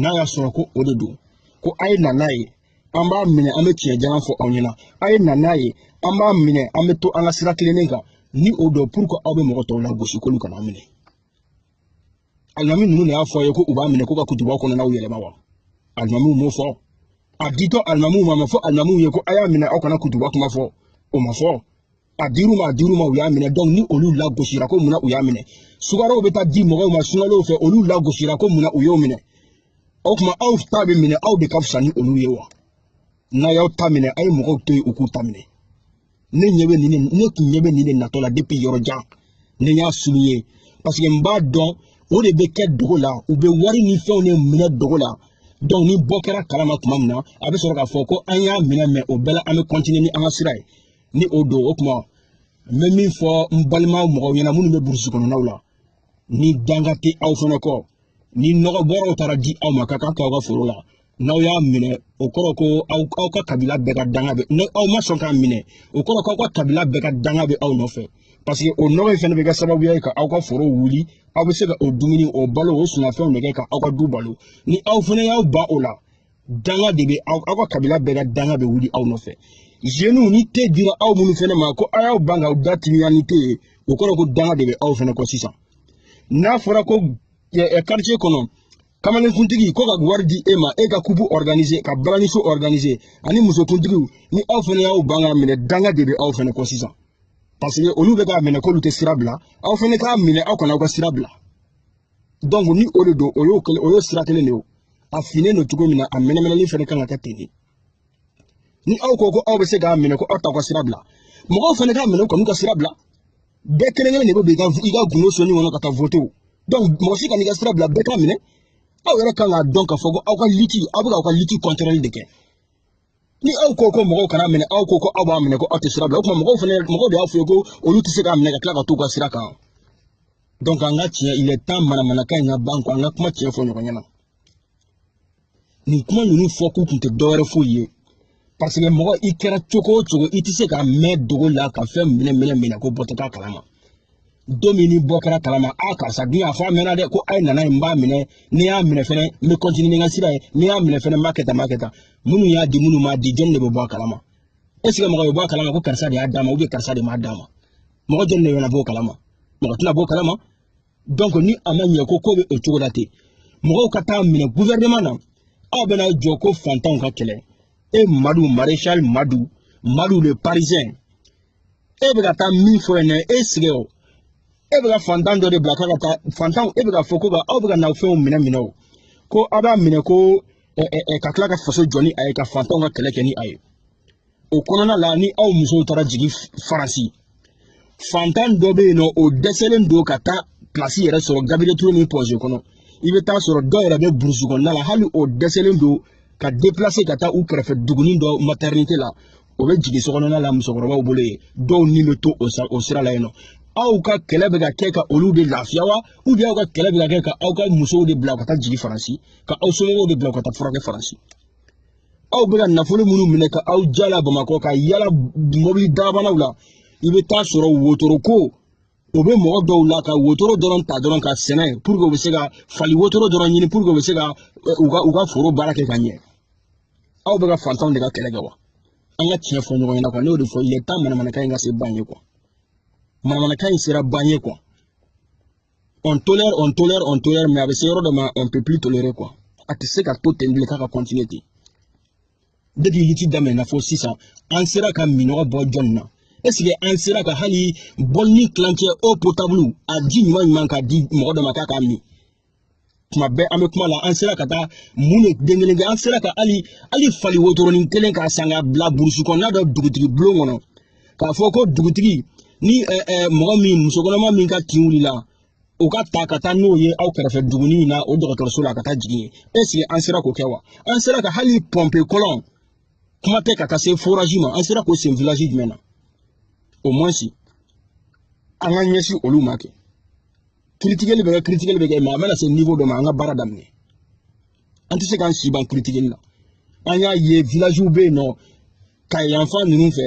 n'a y'a sɔrɔ ko o de don ko a ye na n'a ye an b'a minɛ an bɛ tiɲɛ jalan fɔ aw ɲɛna a ye na n'a ye an b'a minɛ an bɛ to an ka sira tilennen kan ni o don pour que aw bɛ mɔgɔ tɔw lagosi k'olu kan'a minɛ alimami ninnu de y'a fɔ a ye ko u b'a minɛ ko ka kutubaw kɔnɔnaw yɛlɛma wa alimamiw m'o fɔ a ditɔ alimamiw ma a ma fɔ alimamiw ye ko a y'a minɛ aw kana kutuba kuma fɔ o ma fɔ a dir'u ma a dir'u ma u y'a minɛ donc ni olu lagosira ko mun na u y'a minɛ sukarow bɛ taa di mɔgɔw ma sunkalow fɛ olu lagosira ko mun na u y'o minɛ o tuma aw ta bɛ minɛ aw de ka fisa ni olu ye wa n'a y'aw ta minɛ a ye mɔgɔw to yen u k'u ta minɛ ne ɲɛ bɛ nin de ne tun ɲɛ bɛ nin de natɔ la depuis yɔrɔ jan ne y'a souligné parce que n b'a dɔn o de bɛ kɛ dogo la u bɛ wari ni fɛnw de minɛ dogo la donc ni bɔ kɛra a kalama tuma min na a bɛ sɔrɔ k'a fɔ ko an y'a minɛ mais o bɛɛ la an bɛ continuer ni an ka sira ye ni o don o kuma n bɛ min fɔ n balima mɔgɔw ɲɛna minnu bɛ burusi kɔnɔnaw la ni danga tɛ aw fana kɔ ni nɔgɔ bɔrɔw taara di aw ma k'a k'a kɛ aw ka foro la n'aw y'a minɛ o kɔrɔ ko aw aw ka kabila bɛɛ ka danga bɛ ni aw ma sɔn k'a minɛ o kɔrɔ ko aw ka kabila bɛɛ ka danga bɛ aw nɔfɛ parce que o nɔgɔ in fana bɛ kɛ sababuya ye ka aw ka foro wuli aw bɛ se ka o dumuni o balo o sumanfɛnw de kɛ ka aw ka du balo ni aw fana y'aw ban o la danga de bɛ aw aw ka kabila bɛɛ ka danga bɛ wuli aw nɔfɛ jeniw ni te dira aw minnu fana ma ko aw y'aw ban ka aw da timiya ni te ye o kɔrɔ ko danga de bɛ aw fana kɔ sisan n'a fɔra ko quartier kɔnɔ kamalenkuntigi ko ka wari di e ma e ka kubu organiser ka balaniso organiser ani musokuntigiw ni aw fana y'aw ban k'a minɛ danga de bɛ aw fana kɔ sisan parce que olu bɛ k'a minɛ k'olu tɛ sira bila aw fana k'a minɛ aw kana aw ka sira bila donc ni o de don o y'o kelen o y'o sira kelen de ye o a finnen don cogo min na a mɛnɛmɛnɛli fɛnɛ kan ka kɛ ten de ni aw ko ko aw bɛ se k'a minɛ ko aw t'aw ka sira bila mɔgɔw fɛnɛ k'a minɛ u kan'u ka sira bila bɛɛ kelen kelen de bɛ don i ka i ka gundo sonin kɔnɔ ka taa voter donc mɔgɔ si kan'i ka sira bila bɛɛ k'a minɛ aw yɛrɛ kan k'a dɔn k'a fɔ ko aw ka liti aw bɛ ka aw ka liti kɔntɛrɛli de kɛ ni aw ko ko mɔgɔw kana a minɛ aw ko ko aw b'a minɛ ko aw tɛ sira bila o tuma mɔgɔw fana mɔgɔw de y'a fɔ ye ko olu tɛ se k'a minɛ ka tila ka t'u ka sira kan donc an ka tiɲɛ il est temps manamanakan in ka ban quoi an ka kuma tiɲɛ fɔ ɲɔgɔn ɲɛna nin kuma ninnu fɔ kun tun tɛ dɔwɛrɛ foyi ye parce que mɔgɔ i kɛra cogo o cogo i tɛ se ka mɛn dogo la ka fɛn minɛ minɛ minɛ ko bɔ tɛ k'a kalama don min ni bɔ kɛra a kalama a karisa dun y'a fɔ a mɛnna dɛ ko a ye na n'a ye n b'a minɛ ni n y'a minɛ fɛnɛ n bɛ kɔntini ni n ka sira ye ni n y'a minɛ fɛnɛ n b'a kɛ tan n b'a kɛ tan minnu y'a di minnu m'a di jɔnni de bɛ bɔ a kalama est ce que mɔgɔ bɛ bɔ a kalama ko karisa de y'a d'a ma karisa de m'a d'a ma mɔgɔ jɔnni de bɛna bɔ o kalama mɔgɔ tɛna bɔ o kalama donc ni a ma ɲɛ ko ko bɛ o cogo la ten mɔgɔw ka taa a minɛ gouvernement na aw bɛna jɔ ko fantanw ka kɛlɛ e madu maréchal madu madu le parisien e bɛ ka taa min fɔ yen nɔ e sigi o e bɛ ka fantan dɔ de bila k'a ka taa fantanw e bɛ k'a fɔ ko ka aw bɛ ka n'aw fɛnw minɛ minɛ o ko aw b'a minɛ ko ɛ ɛ ɛ ka tila ka faso jɔ ni a ye ka fantanw ka kɛlɛ kɛ ni a ye o kɔnɔna la ni aw musow taara jigin faransi fantan dɔ bɛ yen nɔ o dɛsɛlen don ka taa pilasi yɛrɛ sɔrɔ gabiriyɛli ture ni point g kɔnɔ i bɛ taa sɔrɔ dɔw yɛrɛ bɛ burusi kɔnɔna la hali o dɛsɛlen don ka ka taa u kɛrɛfɛ dugunin dɔ matɛrɛnite la o bɛ jigin sokɔnɔna la musokɔrɔbaw bolo yen dɔw ni bɛ to o sira la yen nɔ aw ka kɛlɛ bɛ ka kɛ ka olu de lafiya wa ubiyɛn aw ka kɛlɛ bɛ ka kɛ ka aw ka musow de bila ka taa jigin faransi ka aw somɔgɔw de bila ka taa furakɛ faransi aw bɛ ka nafolo minnu minɛ ka aw yala bamakɔ ka yala mɔbili dabanaw la i bɛ taa sɔrɔ wotoro ko o bɛ mɔgɔ dɔw la ka wotoro dɔrɔn ta dɔrɔn ka sɛnɛ puruke u bɛ se ka fali wotoro dɔrɔn ɲini puruke u bɛ se ka u ka u ka foro baara kɛ ka ɲɛ aw bɛ ka fantanw de ka kɛlɛ kɛ wa an ka tiɲɛ fɔ ɲɔgɔn ɲɛna kuwa ne y'o de fɔ il est temps manamanakan in ka se ban ye kuwa manamanakan in sera ban ye kuwa on tolère on tolère on tolère mais a bɛ se yɔrɔ dɔ ma on peut plus tolérer kuwa a tɛ se ka to ten bilen k'a ka continuer ten depuis liti daminɛna fo sisan an sera ka minnɔgɔ bɔ jɔnni na est-ce que an sera ka hali bɔlinin tilancɛ eau potable a ji ɲuman ɲuman ka di mɔgɔ dɔ ma k'a k'a min tuma bɛɛ an bɛ kuma la an sera ka taa mun de den kelen kɛ an sera ka hali hali fali wotoronin kelen k'a san k'a bila burusi kɔnɔna dɔ dugutigi bulon kɔnɔ k'a fɔ ko dugutigi ni mɔgɔ min musokɔnɔma min ka tin wulila o ka ta ka taa n'o ye aw kɛrɛfɛ duguni in na o dɔgɔtɔrɔso la ka taa jigin yen eseke an sera k'o kɛ wa an sera ka hali pɔnpe kɔlɔn kuma tɛ ka taa se forazi ma an sera k'o sen vilazi jumɛn na au moins si an ka ɲɛsin olu ma kɛ kiritikeli bɛ kɛ kiritikeli bɛ kɛ mɛ a mana se niwo dɔ ma an ka baara daminɛ an tɛ se k'an si ban kiritikeli la an y'a ye vilaziw bɛ yen nɔ kayi fan ninnu fɛ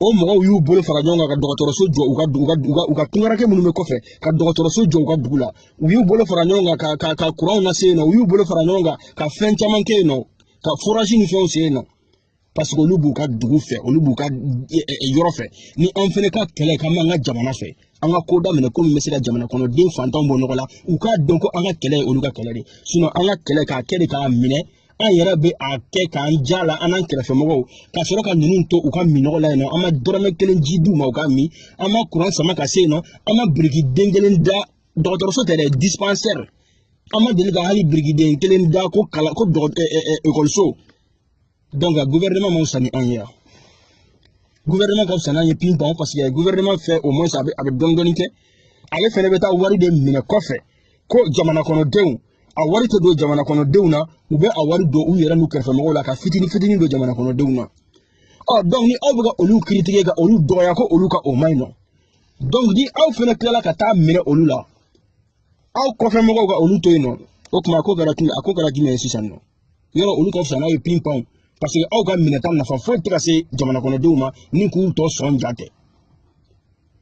o mɔgɔw y'u bolo fara ɲɔgɔn kan ka dɔgɔtɔrɔso jɔ u ka u ka u ka u ka tungarakɛ minnu bɛ kɔfɛ ka dɔgɔtɔrɔso jɔ u ka dugu la u y'u bolo fara ɲɔgɔn kan ka ka ka kuranw lase yen nɔ u y'u bolo fara ɲɔgɔn kan ka fɛn caman kɛ yen nɔ ka forazi ni fɛnw sen yen nɔ paseke olu b'u ka dugu fɛ olu b'u ka e, e, e, yɔrɔ fɛ ni an fɛnɛ ka kɛlɛ k'an b'an ka jamana fɛ an ka ko daminɛ ko min bɛ se ka jamana kɔnɔ den fantanw bɔ nɔgɔ la u k'a dɔn ko an ka kɛlɛ ye olu ka kɛlɛ de ye an ka kɛlɛ k'a kɛ de k'a minɛ an yɛrɛ bɛ a kɛ k'an ja la an n'an kɛrɛfɛmɔgɔw ka sɔrɔ ka ninnu to u ka minnɔgɔ la yen nɔ an ma dɔrɔmɛ kelen ji d'u ma u ka min an ma kuran sama ka se yen nɔ an ma birikiden kelen da dɔgɔtɔrɔso tɛ dɛ dispansɛri an ma deli ka hali birikiden kelen da ko kalan ko ekɔliso donc a gouvernement man fisa ni anw ye yan gouvernement ka fisa n'an ye pinpan parce que gouvernement fɛ au moins a bɛ a bɛ dɔɔni dɔɔni kɛ ale fɛnɛ bɛ taa wari de minɛ kɔfɛ ko jamana kɔnɔdenw a wari tɛ don jamana kɔnɔdenw na u bɛ a wari don u yɛrɛ n'u kɛrɛfɛmɔgɔw la ka fitini fitini don jamana kɔnɔdenw na ɔ donc ni aw bɛ ka olu kiritike ka olu dɔgɔya ko olu ka o man ɲi nɔ donc ni aw fɛnɛ tilala ka taa minɛ olu la aw kɔfɛ mɔgɔw ka olu to yen nɔ o tuma a ko kɛra tun a ko kɛra jumɛn ye sisan nɔ yɔrɔ olu ka fisa n'aw ye pinpan parce que aw ka minɛta nafa foyi tɛ ka se jamanakɔnɔdenw ma ni k'u tɔ sɔn ja tɛ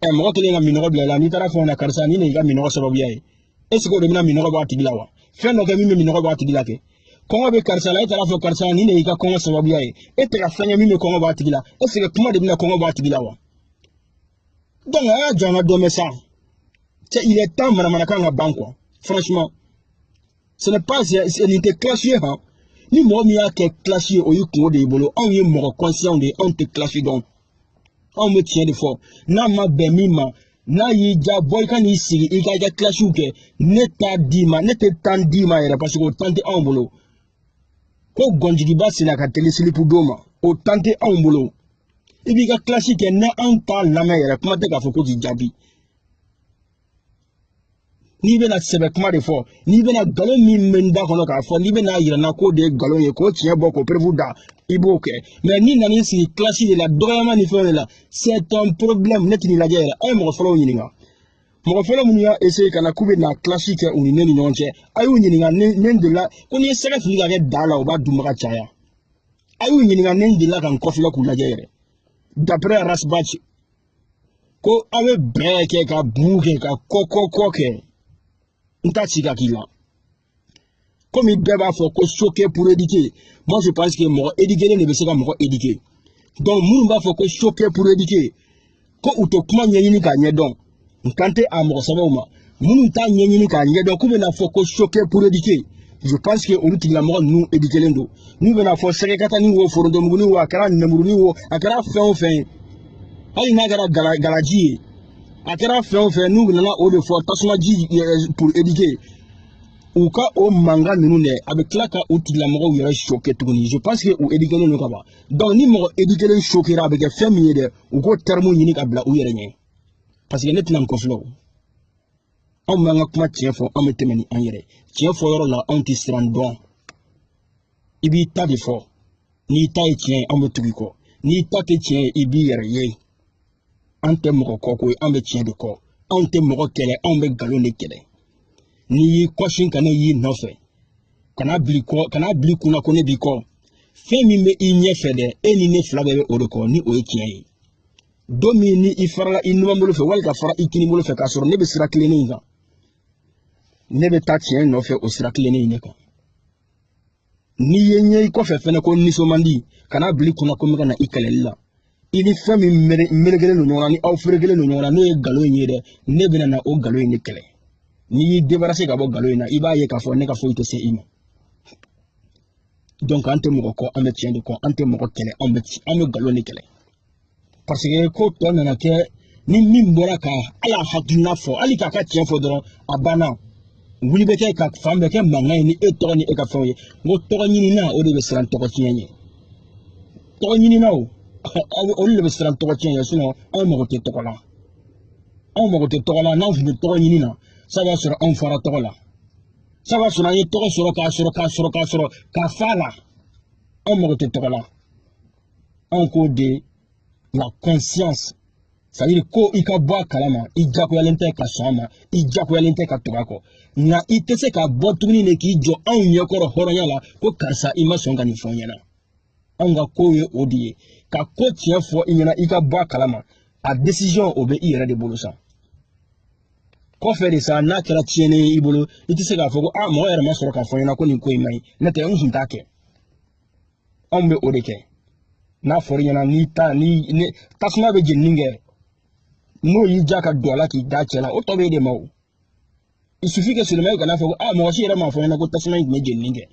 ɛ mɔgɔ kelen ka minɔgɔ bila i la n'i taara fɔ na karisa ni nin y'i ka minɔgɔ sababuya ye est ce que o de bɛna minɔgɔ bɔ a tigi la wa fɛn dɔ kɛ min bɛ minɔgɔ bɔ a tigi la kɛ kɔngɔ bɛ karisa la e taara fɔ karisa ni nin y'i ka kɔngɔ sababuya ye e tɛ ka fɛn kɛ min bɛ kɔngɔ bɔ a tigi la est ce que kuma de bɛna kɔngɔ bɔ a tigi la wa donc a y'a jɔ an ka dɔ mɛn sa cɛ il est temps manamanakan ka ban quoi franchement ce n'est pas nin tɛ kilasi ye han ni mɔgɔ min y'a kɛ kilasi ye o y'i kunko de y'i bolo anw ye mɔgɔ kɔnsiyanw de ye anw tɛ kilasi dɔn anw bɛ tiɲɛ de fɔ n'a ma bɛn min ma n'a y'i ja bɔ i ka n'i sigi i ka i ka kilasiw kɛ ne t'a d'i ma ne tɛ tan d'i ma yɛrɛ paseke o tan tɛ anw bolo ko gɔnjigiba senna ka teli silipu don ma o tan tɛ anw bolo i b'i ka kilasi kɛ ni anw t'a lamɛn yɛrɛ kuma tɛ k'a fɔ ko k'i jaabi n'i bɛna sɛbɛ kuma de fɔ n'i bɛna nkalon min bɛ n da kɔnɔ k'a fɔ n'i bɛna yira n na k'o de ye nkalon ye k'o tiɲɛ bɔ k'o perewu da i b'o kɛ mais n'i nan'i sigi kilasi de la dɔgɔyama ni fɛnw de la c'est un problème ne tɛn'i lajɛ yɛrɛ a ye mɔgɔ fɔlɔw ɲininka mɔgɔ fɔlɔ minnu y'a essayer ka na k'u bɛna kilasi kɛ u ni ne ni ɲɔgɔn cɛ a y'u ɲininka ni ne delila ko n'i ye sɛgɛ fili ka kɛ da la o b'a dunbaga caya a y'u ɲininka ni n delila ka n kɔfilɛ k'u lajɛ yɛrɛ d'après Ras Bath ko aw bɛ bɛɛ kɛ ka buu kɛ ka kɔkɔkɔ kɛ n t'a ci ka k'i la komi bɛɛ b'a fɔ ko choquer pour éduquer moi je pense que mɔgɔ éduquelen de bɛ se ka mɔgɔ éduquer donc minnu b'a fɔ ko choquer pour éduquer ko u tɛ kuma ɲɛɲini k'a ɲɛdɔn n kan tɛ a mɔgɔ sɛbɛw ma minnu t'a ɲɛɲini k'a ɲɛdɔn k'u bɛna fɔ ko choquer pour éduquer je pense que olu tigilamɔgɔ ninnu éduquelen don n'u bɛna fɔ sɛgɛkatani wo forontomuguni wo a kɛra nɛmuruni wo a kɛra fɛn o fɛn ye hali n'a kɛra gala galaji ye a kɛra fɛn o fɛn n'u nana o de fɔ tasumaji eh, pour éduquer u ka o mankan ninnu dɛ a bɛ tila ka u tigilamɔgɔw yɛrɛ choquer tuguni je pense que u éduquelen don ka ban donc ni mɔgɔ éduquelen choquera a bɛ kɛ fɛn min ye dɛ u k'o terme ɲini ka bila u yɛrɛ ɲɛ paseke ne tɛna n kɔfilɛ o anw b'an ka kuma tiɲɛ fɔ anw bɛ tɛmɛ ni an yɛrɛ tiɲɛ fɔ yɔrɔ la anw tɛ siran dɔn i b'i ta de fɔ n'i ta ye tiɲɛ ye anw bɛ tugu i kɔ n'i ta tɛ tiɲɛ ye i b'i yɛrɛ ye an tɛ mɔgɔ kɔ koyi anw bɛ tiɲɛ de kɔ anw tɛ mɔgɔ kɛlɛ anw bɛ nkalon de kɛlɛ n'i y'i kɔsin ka ne y'i nɔfɛ kan'a bil'i kɔ kan'a bil'i kun na ko ne b'i kɔ fɛn min bɛ i ɲɛfɛ dɛ e ni ne fila bɛɛ bɛ o de kɔ ni o ye tiɲɛ ye don min ni i farala i numanbolo fɛ wali ka fara i kinibolo fɛ k'a sɔrɔ ne bɛ sira tilennen in kan ne bɛ taa tiɲɛ nɔfɛ o sira tilennen in de kan n'i ye n ye i kɔfɛ fɛnɛ ko nisɔn man di kan'a bil'i kun na ko n bɛ ka na i kɛlɛli la i ni fɛn min melekelen don ɲɔgɔn na ni aw ferekelen don ɲɔgɔn na n'o ye nkalon in ye dɛ ne bɛna na o nkalon in de kɛlɛ n'i y'i débarrasser ka bɔ nkalon in na i b'a ye k'a fɔ ne ka foyi tɛ se i ma donc an tɛ mɔgɔ kɔ an bɛ tiɲɛ de kɔ an tɛ mɔgɔ kɛlɛ an bɛ an bɛ nkalon de kɛlɛ paseke ko tɔ nana kɛ ni min bɔra ka a la hakilina fɔ hali k'a ka tiɲɛ fɔ dɔrɔn a banna wuli bɛ kɛ ka fan bɛɛ kɛ mankan ye ni e tɔgɔ ni e ka fɛnw ye n ko tɔgɔ ɲinina o de bɛ siran tɔgɔ tiɲɛ ɲɛ tɔgɔ ɲininaw olu de bɛ siran tɔgɔ tiɲɛ ɲɛ anw mago tɛ tɔgɔ la anw mago tɛ tɔgɔ la n'anw tun bɛ tɔgɔ ɲini na sa b'a sɔrɔ anw fara tɔgɔ la sa b'a sɔrɔ an ye tɔgɔ sɔrɔ k'a sɔrɔ k'a sɔrɔ k'a sɔrɔ ka fa a la anw mago tɛ tɔgɔ la anw k'o de la conscience c'est à dire ko i ka bɔ a kalama i jagoyalen tɛ ka sɔn a ma i jagoyalen tɛ ka tugu a kɔ nka i tɛ se ka bɔ tuguni de k'i jɔ anw ɲɛkɔrɔ hɔrɔnya la ko karisa i ma sɔn ka nin fɔ n ɲɛna anw ka kow ye o de ye ka ko tiɲɛ fɔ i ɲɛna i ka bɔ a kalama a décision o bɛ i yɛrɛ de bolo sa kɔfɛ de sa n'a kɛra tiɲɛni ye i bolo i tɛ se k'a fɔ ko a mɔgɔ yɛrɛ ma sɔrɔ k'a fɔ n ɲɛna ko nin ko in man ɲi n'o tɛ n tun t'a kɛ anw bɛ o de kɛ n'a fɔra i ɲɛna n'i ta ni tasuma bɛ jenini kɛ n'o y'i ja ka don a la k'i da cɛ la o tɔ bɛ e de ma o il suffit que seulement e kana fɔ ko a mɔgɔ si yɛrɛ m'a fɔ n ɲɛna ko tasuma in tun bɛ jenini kɛ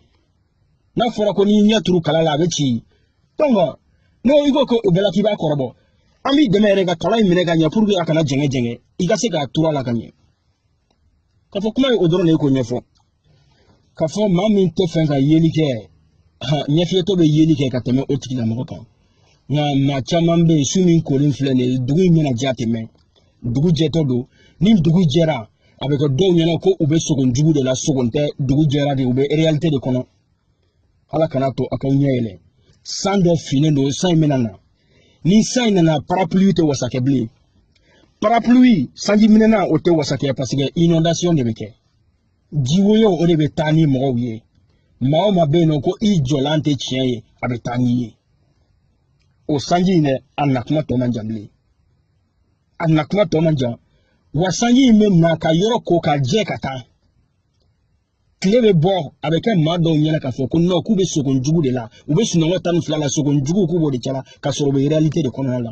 n'a fɔra ko n'i ɲɛ turu kala la a bɛ ci donc n'o i ko ko o bɛɛ la k'i b'a kɔrɔbɔ an b'i dɛmɛ yɛrɛ ka kala in minɛ ka ɲɛ pour que a kana jɛngɛ jɛngɛ i ka se k'a turu a la ka ɲɛ k'a fɔ kuma ye o dɔrɔn de ye k'o ɲɛfɔ k'a fɔ maa min t'a fɛ ka yeli kɛ ɲɛfiyentɔ bɛ yeli kɛ ka tɛmɛ o tigilamɔgɔ kan nka maa caman bɛ yen su min kolen filɛ nin ye dugu in bɛna jɛ a tɛ mɛn dugu jɛtɔ don ni dugu jɛra a bɛ kɛ dɔw ɲɛna ko u bɛ sogo jugu de la sogo tɛ dugu jɛra de u bɛ réalité de kɔnɔ ala kana to aw k'aw ɲɛ yɛlɛ san dɔ finnen don san in bɛna na ni san in nana parapluie tɛ wasa kɛ bilen parapluie sanji minɛnan o tɛ wasa kɛ parce que inondation de bɛ kɛ jiwoyo o de bɛ taa ni mɔgɔw ye maa o maa bɛ yen n'o ko i jɔlan tɛ tiɲɛ ye a bɛ taa n'i ye o sanji in dɛ a na kuma tɔ man jan bilen a na kuma tɔ man jan wa sanji in bɛ na ka yɔrɔ ko ka jɛ ka taa tile bɛ bɔ a bɛ kɛ maa dɔw ɲɛna k'a fɔ ko non k'u bɛ sogon jugu de la u bɛ sunɔgɔ tan ni fila la sogon jugu k'u b'o de cɛla ka sɔrɔ u bɛ réalité de kɔnɔna la